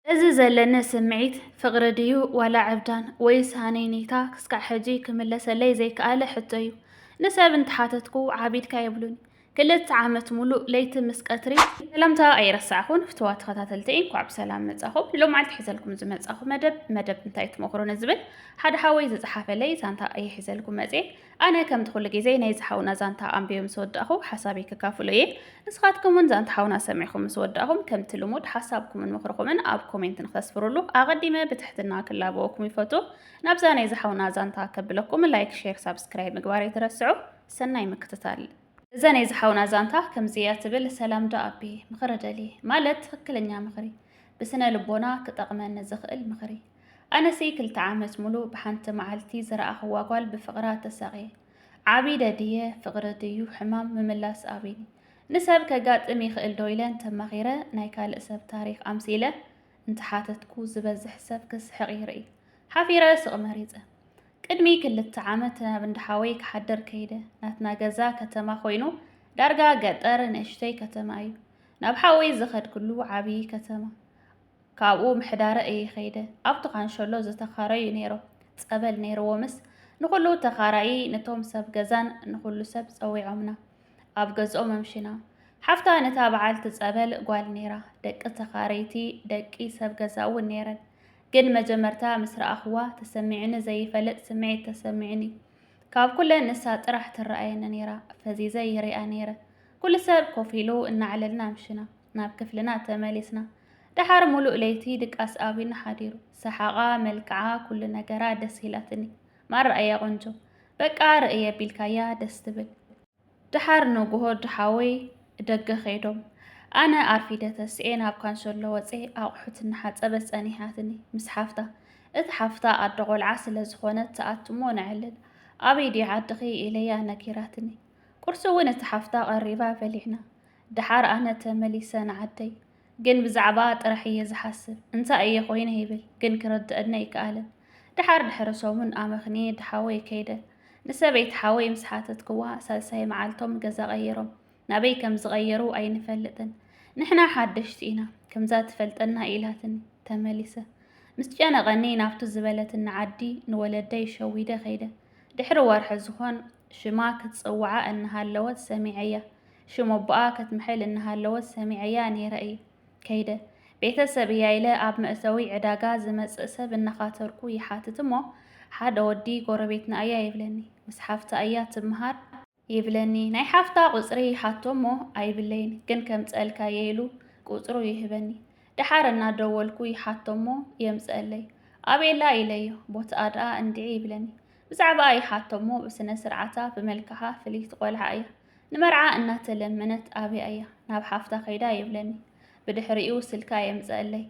እዚ ዘለኒ ስምዒት ፍቕሪ ድዩ ዋላ ዕብዳን ወይስ ሃነይነይታ ክስካዕ ሕጂ ክምለሰለይ ዘይከኣለ ሕቶ እዩ። ንሰብ እንተሓተትኩ ዓቢድካ ይብሉኒ። ክልተ ዓመት ሙሉእ ለይቲ ምስ ቀትሪ ሰላምታ ኣይረሳዕኹን ፍትዋ ተኸታተልቲ እንኳዕ ብሰላም መጻኹም ሎም ዓልቲ ሒዘልኩም ዝመጻኹ መደብ መደብ እንታይ ትመኽሩኒ ዝብል ሓደ ሓወይ ዝጸሓፈለይ ዛንታ እየ ሒዘልኩም መጽየ ኣነ ከምቲ ኩሉ ግዜ ናይዚ ሓውና ዛንታ ኣንቢበ ምስ ወዳእኹ ሓሳበይ ከካፍሎ እየ። ንስኻትኩም ውን ዛንታ ሓውና ሰሚዕኹም ምስ ወዳእኹም ከምቲ ልሙድ ሓሳብኩምን ምኽርኹምን ኣብ ኮሜንት ንክተስፍሩሉ ኣቐዲመ ብትሕትና ክላበወኩም ይፈቱ። ናብዛ ናይዚ ሓውና ዛንታ ከብለኩም ላይክ ሼር ሳብስክራይብ ምግባር ኣይትረስዑ። ሰናይ ምክትታል። እዛ ናይዚ ሓውና ዛንታ ከምዚ እያ ትብል፣ ሰላም ዶ ኣቢ፣ ምኽሪ ደልየ፣ ማለት ትኽክለኛ ምኽሪ፣ ብስነ ልቦና ክጠቕመኒ ዝኽእል ምኽሪ። ኣነሲ ክልተ ዓመት ሙሉእ ብሓንቲ መዓልቲ ዝረኣኽዋ ጓል ብፍቕራ ተሳቕየ ዓቢደ ድየ ፍቕሪ ድዩ ሕማም ምምላስ ኣቢኒ ንሰብ ከጋጥም ይኽእል ዶ ኢለን ተማኺረ ናይ ካልእ ሰብ ታሪኽ ኣምሲለ እንተሓተትኩ ዝበዝሕ ሰብ ክስሕቕ ይርኢ ሓፊረ ስቕ መሪፀ ቅድሚ ክልተ ዓመት ናብ እንዳሓወይ ክሓድር ከይደ ናትና ገዛ ከተማ ኮይኑ ዳርጋ ገጠር ንእሽተይ ከተማ እዩ ናብ ሓወይ ዝኸድክሉ ዓብዪ ከተማ ካብኡ ምሕዳረ እየ ኸይደ። ኣብቲ ካንሸሎ ዝተኻረዩ ነይሮም። ጸበል ነይርዎምስ ንኹሉ ተኻራዪ፣ ነቶም ሰብ ገዛን ንኹሉ ሰብ ጸዊዖምና። ኣብ ገዝኦም ኣምሽና። ሓፍታ ነታ በዓልቲ ጸበል ጓል ነይራ። ደቂ ተኻረይቲ፣ ደቂ ሰብ ገዛ እውን ነይረን። ግን መጀመርታ ምስ ረኣኹዋ ተሰሚዑኒ ዘይፈልጥ ስምዒት ተሰሚዑኒ። ካብ ኩለን ንሳ ጥራሕ ትረኣየኒ ነይራ። ፈዚዘ ይሪኣ ነይረ። ኩሉ ሰብ ኮፍ ኢሉ እናዕለልና ኣምሽና። ናብ ክፍልና ተመሊስና። ደሓር ሙሉእ ለይቲ ድቃስ ኣቢና ሓዲሩ። ሰሓቓ፣ መልክዓ፣ ኩሉ ነገራ ደስ ኢላትኒ። ማራ እያ ቆንጆ። በቃ ርእይ ኣቢልካያ ደስ ትብል። ደሓር ንጉሆ ሓወይ ደገ ከይዶም ኣነ ኣርፊደ ተስኤ ናብ ካንሰሎ ወፀ ኣቑሑት እናሓፀበት ፀኒሓትኒ ምስ ሓፍታ እቲ ሓፍታ ኣደ ቆልዓ ስለ ዝኾነት ትኣትሞ ነዕልል ኣበይ ድዩ ዓድኺ ኢለያ ነጊራትኒ ቁርሲ እውን እቲ ሓፍታ ቀሪባ በሊዕና ድሓር ኣነ ተመሊሰ ንዓደይ ግን ብዛዕባኣ ጥራሕ እየ ዝሓስብ እንታይ እየ ኮይነ ይብል ግን ክርደኣኒ ኣይከኣለን ድሓር ድሕሪ ሰሙን ኣመኽንየ ድሓወይ ከይደ ንሰበይቲ ሓወይ ምስ ሓተትክዋ ሳልሳይ መዓልቶም ገዛ ቀይሮም ናበይ ከም ዝቐየሩ ኣይንፈልጥን ንሕና ሓደሽቲ ኢና ከምዛ ትፈልጠና ኢላትኒ ተመሊሰ ምስ ጨነቐኒ ናብቱ ዝበለትኒ ዓዲ ንወለደይ ሸዊደ ከይደ ድሕሪ ወርሒ ዝኾን ሽማ ክትጽውዓ እናሃለወት ሰሚዐያ ሽም ኣቦኣ ከትምሕል እናሃለወት ሰሚዐያ ነይረ እየ ከይደ። ቤተሰብ እያ ኢለ ኣብ መእተዊ ዕዳጋ ዝመጽእ ሰብ እናኻተርኩ ይሓትት እሞ፣ ሓደ ወዲ ጎረቤትና እያ ይብለኒ። ምስ ሓፍታ እያ ትምሃር። ይብለኒ። ናይ ሓፍታ ቁጽሪ ይሓቶ እሞ ኣይብለይን፣ ግን ከምጽኣልካ'የ ኢሉ ቁጽሩ ይህበኒ። ደሓር እናደወልኩ ይሓቶ እሞ የምጽኣለይ። ኣቤላ ኢለዮ። ቦትኣ ደኣ እንድዒ ይብለኒ። ብዛዕባኣ ይሓቶ እሞ ብስነ-ስርዓታ፣ ብመልክዓ ፍልይቲ ቆልዓ እያ። ንመርዓ እናተለመነት ኣብያ እያ ናብ ሓፍታ ከይዳ ይብለኒ። ብድሕሪኡ ስልካ የምፀእለይ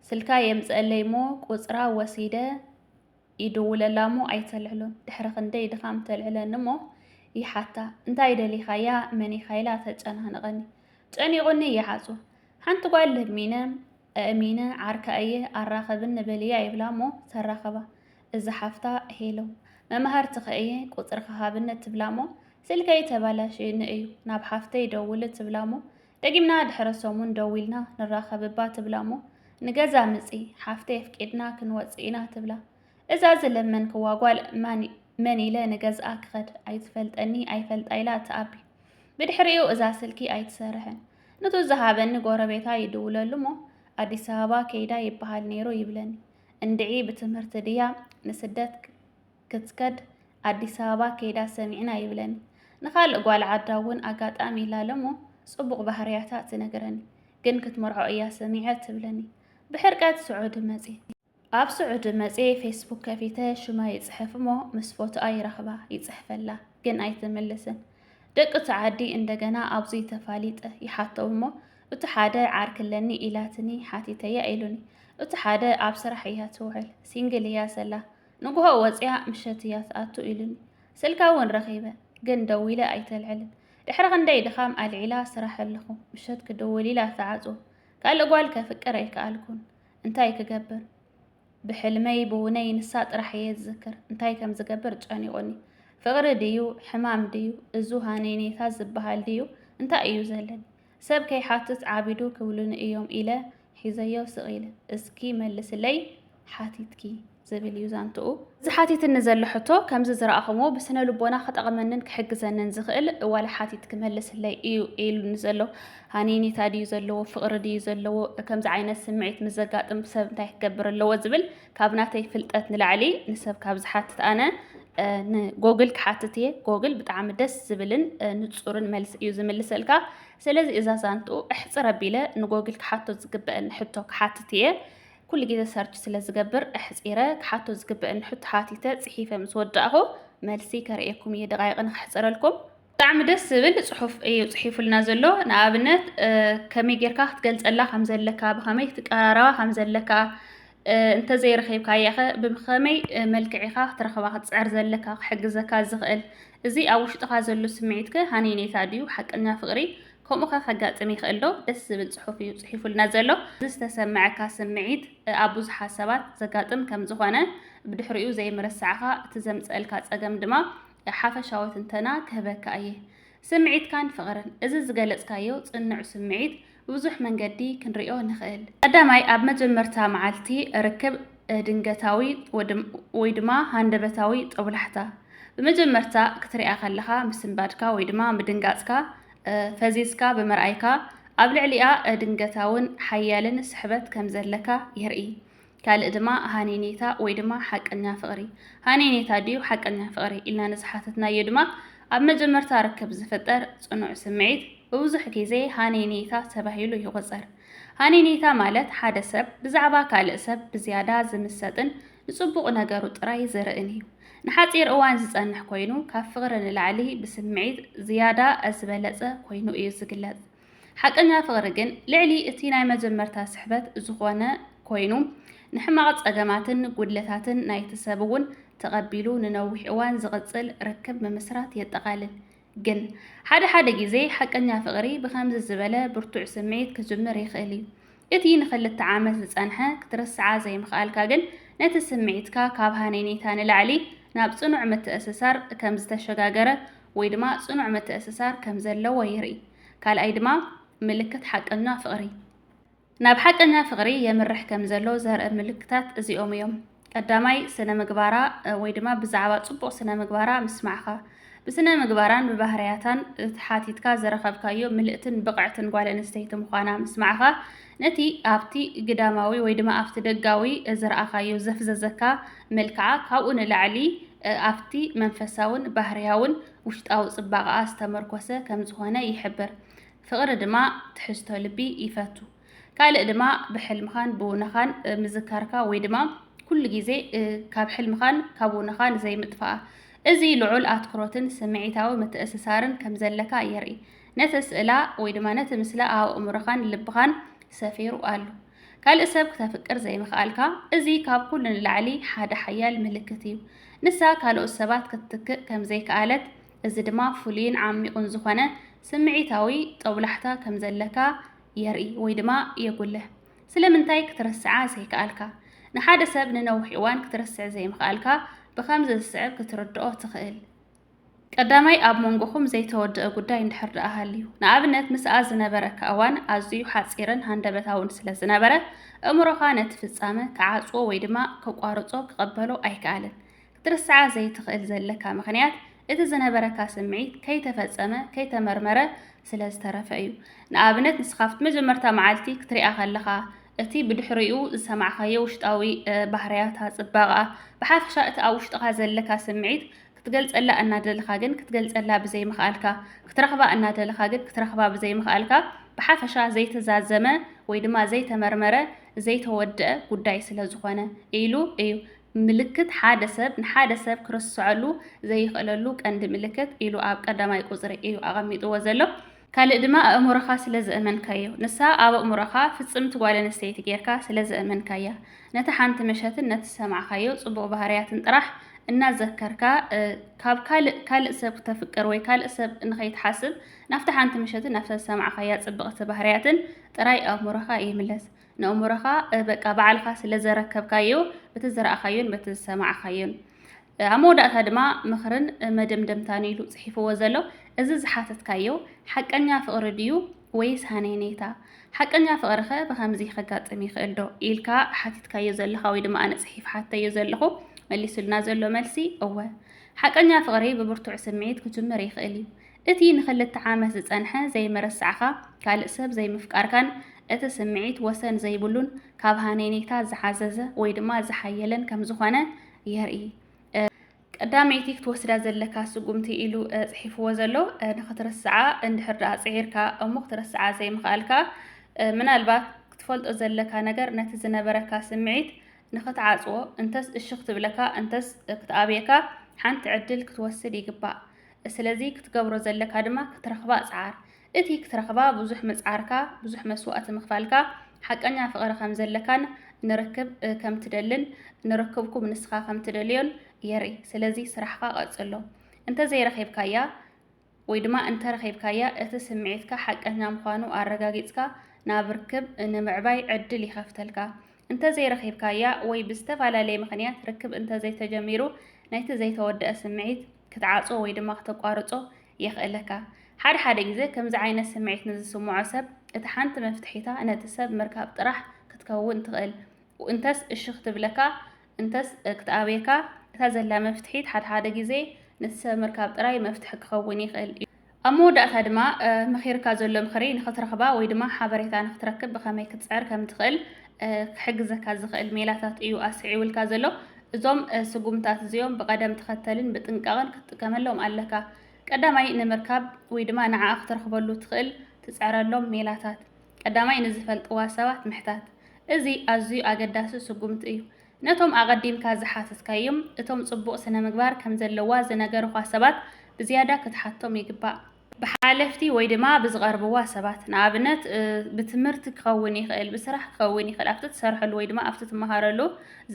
ስልካ የምፀእለይ እሞ ቁፅራ ወሲደ ይድውለላ እሞ ኣይተልዕሎን። ድሕሪ ክንደይ ድኻም ተልዕለኒ እሞ ይሓታ እንታይ ደሊኻያ መን ኢኻ ኢላ ተጨናንቐኒ። ጨኒቑኒ ይሓፁ ሓንቲ ጓል ለሚነ እሚነ ዓርካ እየ ኣራኸብኒ በልያ ይብላ እሞ ተራኸባ። እዛ ሓፍታ ሄሎ መማህርትኺ እየ ቁፅርኺ ሃብኒ ትብላ እሞ ስልከይ ተባላሽዩኒ እዩ ናብ ሓፍተይ ደውሊ ትብላ እሞ ደጊምና ድሕረ ሰሙን ደዊልና ንራኸብ እባ ትብላ እሞ ንገዛ ምፂ ሓፍተይ ኣፍቂድና ክንወፅእ ኢና ትብላ እዛ ዝለመንክዋ ጓል ማን መን ኢለ ንገዝኣ ክኸድ ኣይትፈልጠኒ ኣይፈልጣ ኢላ ትኣቢ ብድሕሪኡ እዛ ስልኪ ኣይትሰርሕን ንቱ ዝሃበኒ ጎረቤታ ይድውለሉ እሞ ኣዲስ ኣበባ ከይዳ ይበሃል ነይሩ ይብለኒ እንድዒ ብትምህርቲ ድያ ንስደት ክትከድ ኣዲስ ኣበባ ከይዳ ሰሚዕና ይብለኒ። ንኻልእ ጓል ዓዳ እውን ኣጋጣሚ ኢላ ለሞ ጽቡቕ ባህርያታ ትነግረኒ። ግን ክትመርዖ እያ ሰሚዐ ትብለኒ። ብሕርቀት ስዑዲ መጺ። ኣብ ስዑዲ መጺ ፌስቡክ ከፊተ ሽማ ይጽሕፍ እሞ ምስ ፎቶኣ ይረኽባ፣ ይጽሕፈላ፣ ግን ኣይትምልስን። ደቂ እቲ ዓዲ እንደገና ኣብዚ ተፋሊጠ ይሓቶም እሞ እቱ ሓደ ዓርኪ ኣለኒ ኢላትኒ ሓቲተያ ኢሉኒ እቱ ሓደ ኣብ ስራሕ እያ ትውዕል ሲንግል እያ ዘላ ንጉሆ ወፅያ ምሸት እያ ትኣቱ ኢሉኒ ስልካ እውን ረኺበ ግን ደዊለ ኣይተልዕልን ድሕሪ ክንደይ ድኻም ኣልዒላ ስራሕ ኣለኹ ምሸት ክድውል ኢላ ተዓፅዎ ካልእ ጓል ከፍቅር ኣይከኣልኩን እንታይ ክገብር ብሕልመይ ብውነይ ንሳ ጥራሕ እየ ዝዝክር እንታይ ከም ዝገብር ጨኒቑኒ ፍቕሪ ድዩ ሕማም ድዩ እዙ ሃነይነይታ ዝበሃል ድዩ እንታይ እዩ ዘለኒ ሰብ ከይሓትት ዓቢዱ ክብሉኒ እዮም ኢለ ሒዘዮ ስቕ ኢለ። እስኪ መልስለይ ሓቲትኪ ዝብል እዩ ዛንትኡ። እዚ ሓቲትኒ ዘሎ ሕቶ ከምዚ ዝረኣኹምዎ ብስነ ልቦና ክጠቕመንን ክሕግዘንን ዝኽእል ዋላ ሓቲት ክመልስለይ እዩ ኢሉኒ ዘሎ። ሃኒኒታ ድዩ ዘለዎ ፍቕሪ ድዩ ዘለዎ ከምዚ ዓይነት ስምዒት ምስ ዘጋጥም ሰብ እንታይ ክገብር ኣለዎ ዝብል ካብ ናተይ ፍልጠት ንላዕሊ ንሰብ ካብ ዝሓትት ኣነ ንጎግል ክሓትት እየ ጎግል ብጣዕሚ ደስ ዝብልን ንፁርን መልሲ እዩ ዝምልሰልካ ስለዚ እዛ ዛንትኡ እሕፅር ኣቢለ ንጎግል ክሓቶ ዝግበአኒ ሕቶ ክሓትት እየ ኩሉ ግዜ ሰርች ስለ ዝገብር ኣሕፂረ ክሓቶ ዝግበአኒ ሕቶ ሓቲተ ፅሒፈ ምስ ወዳእኹ መልሲ ከርእየኩም እየ ደቃይቂ ንክሕፅረልኩም ብጣዕሚ ደስ ዝብል ፅሑፍ እዩ ፅሒፉልና ዘሎ ንኣብነት ከመይ ጌርካ ክትገልፀላ ከም ዘለካ ብከመይ ትቀራረባ ከም ዘለካ እንተዘይረኺብካያኸ ብኸመይ መልክዕ ኢኻ ክትረኽባ ክትጽዕር ዘለካ ክሕግዘካ ዝኽእል? እዚ ኣብ ውሽጥኻ ዘሎ ስምዒትከ ሃነይነይታ ድዩ ሓቀኛ ፍቕሪ? ከምኡኸ ከጋጥም ይኽእል ዶ? ደስ ዝብል ጽሑፍ እዩ ጽሒፉልና ዘሎ። እዚ ዝተሰመዐካ ስምዒት ኣብ ብዙሓት ሰባት ዘጋጥም ከም ዝኾነ ብድሕሪኡ ዘይምርሳዕኻ እቲ ዘምጸእልካ ጸገም ድማ ሓፈሻዊ ትንተና ክህበካ እየ። ስምዒትካን ፍቕርን እዚ ዝገለጽካዮ ጽኑዕ ስምዒት ብብዙሕ መንገዲ ክንርእዮ ንኽእል። ቀዳማይ፣ ኣብ መጀመርታ መዓልቲ ርክብ ድንገታዊ ወይ ድማ ሃንደበታዊ ጦብላሕታ፣ ብመጀመርታ ክትሪኣ ከለኻ ምስንባድካ ወይ ድማ ምድንጋጽካ፣ ፈዚዝካ ብምርኣይካ ኣብ ልዕሊኣ ድንገታውን ሓያልን ስሕበት ከም ዘለካ የርኢ። ካልእ ድማ ሃኔኔታ ወይ ድማ ሓቀኛ ፍቕሪ፣ ሃኔኔታ ድዩ ሓቀኛ ፍቕሪ ኢልና ንዝሓተትናዮ ድማ ኣብ መጀመርታ ርክብ ዝፍጠር ጽኑዕ ስምዒት ብብዙሕ ግዜ ሃኔኔታ ተባሂሉ ይቑጸር። ሃኔኔታ ማለት ሓደ ሰብ ብዛዕባ ካልእ ሰብ ብዝያዳ ዝምሰጥን ንጽቡቕ ነገሩ ጥራይ ዝርእን እዩ። ንሓጺር እዋን ዝጸንሕ ኮይኑ ካብ ፍቕሪ ንላዕሊ ብስምዒት ዝያዳ ዝበለጸ ኮይኑ እዩ ዝግለጽ። ሓቀኛ ፍቕሪ ግን ልዕሊ እቲ ናይ መጀመርታ ስሕበት ዝኾነ ኮይኑ ንሕማቕ ጸገማትን ጉድለታትን ናይቲ ሰብ እውን ተቐቢሉ ንነዊሕ እዋን ዝቕጽል ርክብ ምምስራት የጠቓልል። ግን ሓደ ሓደ ግዜ ሓቀኛ ፍቕሪ ብኸምዚ ዝበለ ብርቱዕ ስምዒት ክጅምር ይኽእል እዩ። እቲ ንኽልተ ዓመት ዝጸንሐ ክትርስዓ ዘይምኽኣልካ ግን ነቲ ስምዒትካ ካብ ሃነይነይታ ንላዕሊ ናብ ጽኑዕ ምትእስሳር ከም ዝተሸጋገረ ወይ ድማ ጽኑዕ ምትእስሳር ከም ዘለዎ የርኢ። ካልኣይ ድማ ምልክት ሓቀኛ ፍቕሪ ናብ ሓቀኛ ፍቕሪ የምርሕ ከም ዘሎ ዘርኢ ምልክታት እዚኦም እዮም። ቀዳማይ ስነ ምግባራ ወይ ድማ ብዛዕባ ጽቡቕ ስነ ምግባራ ምስማዕኻ ብስነ ምግባራን ብባህርያታን ተሓቲትካ ዘረኸብካዮ ምልእትን ብቕዕትን ጓል ኣንስተይቲ ምዃና ምስማዕኻ ነቲ ኣብቲ ግዳማዊ ወይ ድማ ኣብቲ ደጋዊ ዝረኣኻዮ ዘፍዘዘካ መልክዓ ካብኡ ንላዕሊ ኣብቲ መንፈሳውን ባህርያውን ውሽጣዊ ጽባቐኣ ዝተመርኮሰ ከም ዝዀነ ይሕብር። ፍቕሪ ድማ ትሕዝቶ ልቢ ይፈቱ። ካልእ ድማ ብሕልምኻን ብውነኻን ምዝካርካ ወይ ድማ ኩሉ ግዜ ካብ ሕልምኻን ካብ ውነኻን ዘይምጥፋኣ እዚ ልዑል ኣትኩሮትን ስምዒታዊ ምትእስሳርን ከም ዘለካ የርኢ። ነቲ ስእላ ወይ ድማ ነቲ ምስላ ኣብ ኣእምሮኻን ልብኻን ሰፊሩ ኣሎ። ካልእ ሰብ ክተፍቅር ዘይምኽኣልካ፣ እዚ ካብ ኩሉ ንላዕሊ ሓደ ሓያል ምልክት እዩ። ንሳ ካልኦት ሰባት ክትትክእ ከም ዘይከኣለት፣ እዚ ድማ ፍሉይን ዓሚቝን ዝዀነ ስምዒታዊ ጦብላሕታ ከም ዘለካ የርኢ ወይ ድማ የጕልሕ። ስለምንታይ ክትርስዓ ዘይከኣልካ? ንሓደ ሰብ ንነዊሕ እዋን ክትርስዕ ዘይምኽኣልካ ብኸምዚ ዝስዕብ ክትርድኦ ትኽእል። ቀዳማይ ኣብ መንጎኹም ዘይተወድኣ ጉዳይ እንድሕር ደኣ ሃልዩ፣ ንኣብነት ምስኣ ዝነበረካ እዋን ኣዝዩ ሓጺርን ሃንደበታውን ስለ ዝነበረ፣ እእምሮኻ ነቲ ፍጻመ ክዓጽዎ ወይ ድማ ከቋርጾ፣ ክቕበሎ፣ ኣይከኣለን። ክትርስዓ ዘይትኽእል ዘለካ ምኽንያት እቲ ዝነበረካ ስምዒት ከይተፈጸመ፣ ከይተመርመረ፣ ስለ ዝተረፈ እዩ። ንኣብነት ንስኻ ኣብቲ መጀመርታ መዓልቲ ክትሪኣ ከለኻ፣ እቲ ብድሕሪኡ ዝሰማዕካዮ ውሽጣዊ ባህርያታ፣ ጽባቐኣ፣ ብሓፈሻ እቲ ኣብ ውሽጥኻ ዘለካ ስምዒት ክትገልጸላ እናደለኻ ግን ክትገልጸላ ብዘይምኽኣልካ፣ ክትረኽባ እናደለኻ ግን ክትረኽባ ብዘይምኽኣልካ፣ ብሓፈሻ ዘይተዛዘመ ወይ ድማ ዘይተመርመረ ዘይተወድኣ ጉዳይ ስለ ዝኾነ ኢሉ እዩ። ምልክት ሓደ ሰብ ንሓደ ሰብ ክርስዐሉ ዘይኽእለሉ ቀንዲ ምልክት ኢሉ ኣብ ቀዳማይ ቁጽሪ እዩ ኣቐሚጥዎ ዘሎ። ካልእ ድማ ኣእምሮኻ ስለ ዘእመንካዮ። ንሳ ኣብ ኣእምሮኻ ፍጽምቲ ጓል ኣንስተይቲ ጌርካ ስለ ዘእመንካያ። ነታ ሓንቲ ምሸትን ነቲ ዝሰማዕካዮ ጽቡቕ ባህርያትን ጥራሕ እናዘከርካ ካብ ካልእ ካልእ ሰብ ክተፍቅር ወይ ካልእ ሰብ ንኸይትሓስብ ናብታ ሓንቲ ምሸትን ናብታ ዝሰማዕካያ ጽብቕቲ ባህርያትን ጥራይ ኣእምሮኻ ይምለስ። ንእምሮኻ በቃ ባዕልኻ ስለ ዘረከብካዮ በቲ ዝረኣኻዮን በቲ ዝሰማዕካዮን። ኣብ መወዳእታ ድማ ምኽርን መደምደምታን ኢሉ ጽሒፍዎ ዘሎ እዚ ዝሓተትካዮ ሓቀኛ ፍቕሪ ድዩ ወይስ ሃነይነይታ? ሓቀኛ ፍቕሪኸ ብኸምዚ ከጋጥም ይኽእል ዶ? ኢልካ ሓቲትካዮ ዘለኻ ወይ ድማ ኣነ ጽሒፍ ሓተዮ ዘለኹ መሊሱልና ዘሎ መልሲ እወ። ሓቀኛ ፍቕሪ ብብርቱዕ ስምዒት ክጅምር ይኽእል እዩ። እቲ ንክልተ ዓመት ዝጸንሐ ዘይምርሳዕኻ፣ ካልእ ሰብ ዘይምፍቃርካን እቲ ስምዒት ወሰን ዘይብሉን ካብ ሃነይነይታ ዝሓዘዘ ወይ ድማ ዝሓየለን ከም ዝኾነ የርኢ። ቀዳመይቲ ክትወስዳ ዘለካ ስጉምቲ ኢሉ ጽሒፍዎ ዘሎ ንክትርስዓ እንድሕር ደኣ ጽዒርካ እሞ ክትርስዓ ዘይምኽኣልካ ምናልባት ክትፈልጦ ዘለካ ነገር ነቲ ዝነበረካ ስምዒት ንክትዓጽዎ እንተስ እሺ ክትብለካ እንተስ ክትኣብየካ ሓንቲ ዕድል ክትወስድ ይግባእ። ስለዚ ክትገብሮ ዘለካ ድማ ክትረኽባ ጽዓር። እቲ ክትረኽባ ብዙሕ ምጽዓርካ፣ ብዙሕ መስዋእቲ ምኽፋልካ፣ ሓቀኛ ፍቕሪ ከም ዘለካን ንርክብ ከም ትደልን ንርክብኩም ንስኻ ከም ትደልዮን የርኢ። ስለዚ ስራሕካ ቀጽሎ። እንተ ዘይረኺብካያ ወይ ድማ እንተ ረኺብካያ እቲ ስምዒትካ ሓቀኛ ምዃኑ ኣረጋጊጽካ ናብ ርክብ ንምዕባይ ዕድል ይኸፍተልካ። እንተ ዘይረኺብካያ ወይ ብዝተፈላለየ ምኽንያት ርክብ እንተ ዘይተጀሚሩ ነቲ ዘይተወድኣ ስምዒት ክትዓጽዎ ወይ ድማ ክተቋርጾ የኽእለካ። ሓደ ሓደ ግዜ ከምዚ ዓይነት ስምዒት ንዝስምዖ ሰብ እታ ሓንቲ መፍትሒታ ነቲ ሰብ ምርካብ ጥራሕ ክትከውን ትኽእል። እንተስ እሺ ክትብለካ እንተስ ክትኣብየካ እታ ዘላ መፍትሒት ሓደ ሓደ ግዜ ነቲ ሰብ ምርካብ ጥራይ መፍትሒ ክኸውን ይኽእል እዩ። ኣብ መወዳእታ ድማ መኺርካ ዘሎ ምኽሪ ንኽትረኽባ ወይ ድማ ሓበሬታ ንኽትረክብ ብኸመይ ክትጽዕር ከምትኽእል ክሕግዘካ ዝኽእል ሜላታት እዩ ኣስዒቡልካ ዘሎ። እዞም ስጉምታት እዚኦም ብቐደም ተኸተልን ብጥንቃቐን ክትጥቀመሎም ኣለካ። ቀዳማይ ንምርካብ ወይ ድማ ንዓኣ ክትረኽበሉ ትኽእል ትጽዕረሎም ሜላታት። ቀዳማይ ንዝፈልጥዋ ሰባት ምሕታት። እዚ ኣዝዩ ኣገዳሲ ስጉምቲ እዩ። ነቶም ኣቐዲምካ ዝሓተትካዮም እቶም ጽቡቕ ስነ-ምግባር ከም ዘለዋ ዝነገሩኻ ሰባት ብዝያዳ ክትሓቶም ይግባእ። ብሓለፍቲ ወይ ድማ ብዝቐርብዋ ሰባት፣ ንኣብነት ብትምህርቲ ክኸውን ይኽእል፣ ብስራሕ ክኸውን ይኽእል፣ ኣብቲ ትሰርሐሉ ወይ ድማ ኣብቲ ትመሃረሉ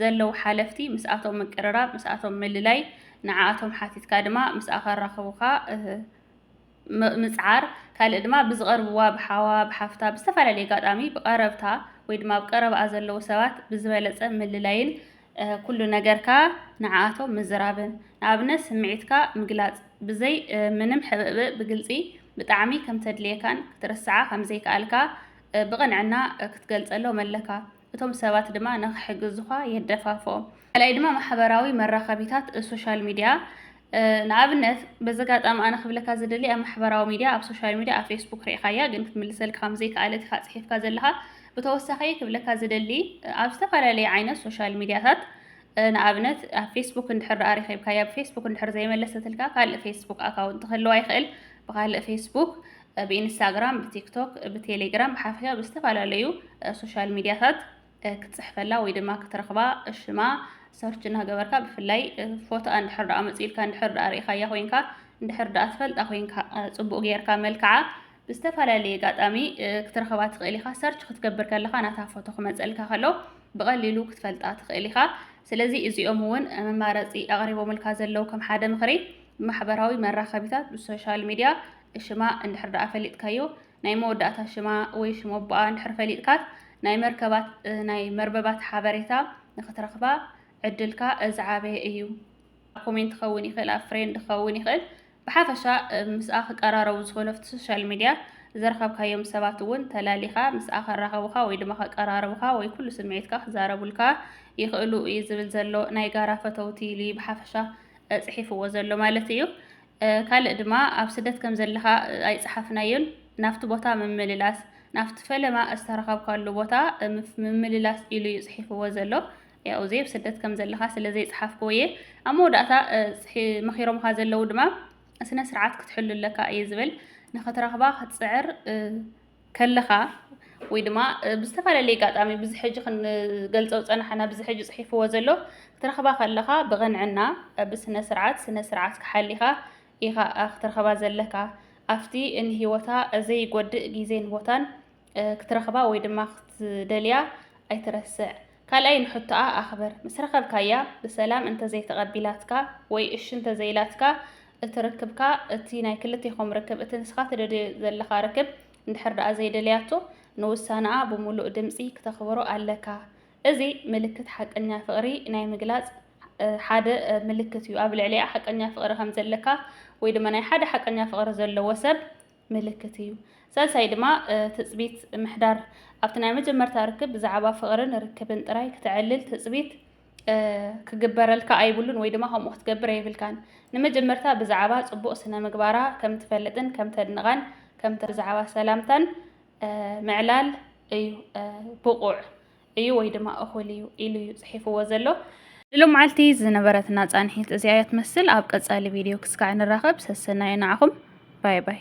ዘለዉ ሓለፍቲ ምስኣቶም ምቅርራብ፣ ምስኣቶም ምልላይ፣ ንዓኣቶም ሓቲትካ ድማ ምስኣ ከራኽቡኻ ምጽዓር፣ ካልእ ድማ ብዝቐርብዋ ብሓዋ፣ ብሓፍታ፣ ብዝተፈላለየ ኣጋጣሚ ብቐረብታ ወይ ድማ ኣብ ቀረባኣ ዘለዉ ሰባት ብዝበለጸ ምልላይን ኩሉ ነገርካ ንዓኣቶም ምዝራብን ንኣብነት ስምዒትካ ምግላጽ ብዘይ ምንም ሕብእብእ ብግልጺ ብጣዕሚ ከምተድልየካን ክትርስዓ ከምዘይክኣልካ ብቕንዕና ክትገልጸሎም ኣለካ እቶም ሰባት ድማ ንኽሕግዙኻ የደፋፍኦም። ካልኣይ ድማ ማሕበራዊ መራኸቢታት፣ ሶሻል ሚድያ፣ ንኣብነት በዚ ኣጋጣሚ ኣነ ክብለካ ዝደሊ ኣብ ማሕበራዊ ሚድያ ኣብ ሶሻል ሚድያ ኣብ ፌስቡክ ሪእኻያ ግን ክትምልሰልካ ከም ዘይከኣለት ኢኻ ጽሒፍካ ዘለኻ ብተወሳኺ ክብለካ ዝደሊ ኣብ ዝተፈላለየ ዓይነት ሶሻል ሚድያታት ንኣብነት ኣብ ፌስቡክ እንድሕር ደኣ ረኺብካያ ብፌስቡክ እንድሕር ዘይመለሰትልካ ካልእ ፌስቡክ ኣካውንት ክህልዋ ይኽእል ብካልእ ፌስቡክ ብኢንስታግራም ብቲክቶክ ብቴሌግራም ብሓፈሻ ብዝተፈላለዩ ሶሻል ሚድያታት ክትጽሕፈላ ወይ ድማ ክትረኽባ ሽማ ሰርች እናገበርካ ብፍላይ ፎቶኣ እንድሕር ደኣ መጺኢልካ እንድሕር ደኣ ርኢኻያ ኮይንካ እንድሕር ደኣ ትፈልጣ ኮይንካ ጽቡቕ ጌርካ መልክዓ ብዝተፈላለየ ኣጋጣሚ ክትረኽባ ትኽእል ኢኻ ሰርች ክትገብር ከለኻ ናታ ፎቶ ክመጸልካ ከሎ ብቐሊሉ ክትፈልጣ ትኽእል ኢኻ ስለዚ እዚኦም እውን መማረፂ ኣቕሪቦምልካ ዘለው ከም ሓደ ምኽሪ ማሕበራዊ መራኸቢታት ብሶሻል ሚድያ ሽማ እንድሕር ደኣ ፈሊጥካዮ ናይ መወዳእታ ሽማ ወይ ሽም ኣቦኣ እንድሕር ፈሊጥካት ናይ መርከባት ናይ መርበባት ሓበሬታ ንክትረክባ ዕድልካ ዝዓበየ እዩ። ኣብ ኮሜንት ክኸውን ይኽእል፣ ኣብ ፍሬንድ ክኸውን ይኽእል፣ ብሓፈሻ ምስኣ ክቀራረቡ ዝኽእሉ ኣብቲ ሶሻል ሚድያ ዝረኸብካዮም ሰባት እውን ተላሊኻ ምስኣ ከራኸቡኻ ወይ ድማ ከቀራርቡኻ ወይ ኩሉ ስምዒትካ ክዛረቡልካ ይኽእሉ እዩ ዝብል ዘሎ ናይ ጋራ ፈተውቲ ኢሉ እዩ ብሓፈሻ ጽሒፍዎ ዘሎ ማለት እዩ። ካልእ ድማ ኣብ ስደት ከም ዘለኻ ኣይጸሓፍናዮን፣ ናብቲ ቦታ ምምልላስ፣ ናብቲ ፈለማ ዝተረኸብካሉ ቦታ ምምልላስ ኢሉ እዩ ጽሒፍዎ ዘሎ። ያው እዚ ኣብ ስደት ከም ዘለኻ ስለ ዘይጸሓፍክዎ እየ። ኣብ መወዳእታ መኺሮምኻ ዘለዉ ድማ ስነ ስርዓት ክትሕሉ ኣለካ እዩ ዝብል። ንኽትረኽባ ክትጽዕር ከለኻ ወይ ድማ ብዝተፈላለየ ኣጋጣሚ ብዚ ሕጂ ክንገልጾ ዝጸናሕና ብዚ ሕጂ ጽሒፍዎ ዘሎ ክትረኽባ ከለኻ ብቕንዕና ብስነ ስርዓት ስነ ስርዓት ክሓሊኻ ኢኻ ክትረኽባ ዘለካ ኣብቲ ንሂወታ ዘይጎድእ ግዜን ቦታን ክትረኽባ ወይ ድማ ክትደልያ ኣይትረስዕ። ካልኣይ ንሕቶኣ ኣኽብር። ምስ ረኸብካያ ብሰላም እንተዘይተቐቢላትካ ወይ እሺ እንተዘይኢላትካ እቲ ርክብካ እቲ ናይ ክልቴኹም ርክብ እቲ ንስኻ ትደልዮ ዘለኻ ርክብ እንድሕር ደኣ ዘይደለያቶ ንውሳነኣ ብሙሉእ ድምፂ ክተኽብሮ ኣለካ። እዚ ምልክት ሓቀኛ ፍቕሪ ናይ ምግላፅ ሓደ ምልክት እዩ። ኣብ ልዕሊኣ ሓቀኛ ፍቕሪ ከምዘለካ ወይ ድማ ናይ ሓደ ሓቀኛ ፍቕሪ ዘለዎ ሰብ ምልክት እዩ። ሳልሳይ ድማ ትጽቢት ምሕዳር ኣብቲ ናይ መጀመርታ ርክብ ብዛዕባ ፍቕርን ርክብን ጥራይ ክተዕልል ትጽቢት ክግበረልካ ኣይብሉን ወይ ድማ ከምኡ ክትገብር ኣይብልካን። ንመጀመርታ ብዛዕባ ጽቡቕ ስነ ምግባራ ከም ትፈልጥን ከም ተድንቓን ከም ብዛዕባ ሰላምታን ምዕላል እዩ ብቑዕ። እዩ ወይ ድማ እኹል እዩ ኢሉ እዩ ጽሒፍዎ ዘሎ። ንሎማዓልቲ ዝነበረትና ጻንሒት እዚኣ እያ ትመስል ኣብ ቀጻሊ ቪድዮ ክስካዕ ንራኸብ ሰሰናዩ ንዓኹም ባይ ባይ።